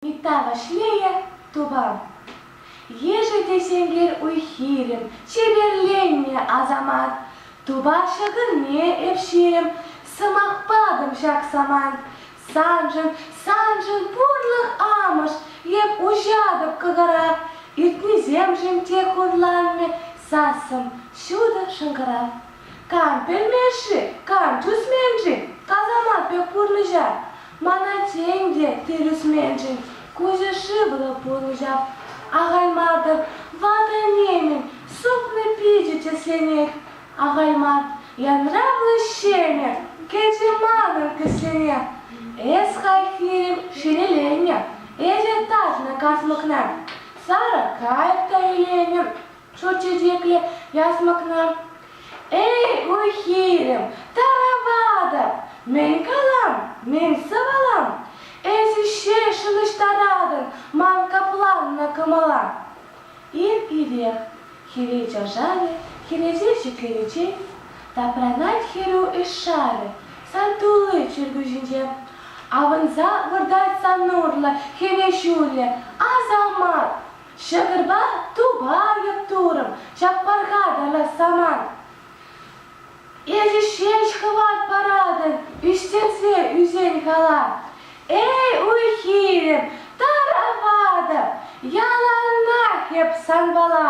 Митта Вашлейӗ тупам. Ешӗл те сенкер уй-хирӗм, чеперленнӗ асамат. Тупа шӑкӑрне эпшем, сӑмах патӑм ҫак самант. Саншӑн, саншӑн пурлӑх амӑш эп уҫатӑп кӑкӑра, Ӳтнисемшӗн те хурланмӗ сассӑм ҫутӑ шӑнкӑрав. Кам пӗлмен-ши, кам тӳсмен-ши касамат пек пурнӑҫа? Мана тен те тӗрӗсменшӗн куҫӗ шывлӑ пурнӑҫа? Ахайматӑп, ватӑ-нимӗн супнӑ пичӗ тӗсленет, Ахайман, янравлӑ ҫенӗк, кӗчӗ манӑн кӗсене. Эс хайхирем ҫӗнеленнӗ, эче татнӑ касмӑкна. Сарӑ кайӑк та иленӗ, ҫут чечеклӗ ясмӑкна. Эй, ой, хирӗм, тараватӑп, мӗн калам, мӗн сӑвалам? Эсӗ ҫеҫ ӑнӑҫтаратӑн ман капланнӑ кӑмӑла. Ир-ирех хӗре чашарӗ, хӗресе шикленичен тапранать хӗрӳ ӗҫ шарӗ. Сан тулли чиркӳ-ҫинче авӑнса выртать сан урлӑ хӗве ҫулӗ. Асамат! Ҫӑкӑрпа тупа йӑп-турӑм, чап парха тарлать самант. Эсӗ ҫеҫ хӑват паратӑн, ӳстерсе ӳсен кала. Эй, уй-хирӗм, тараватӑп, яланах эп санпала.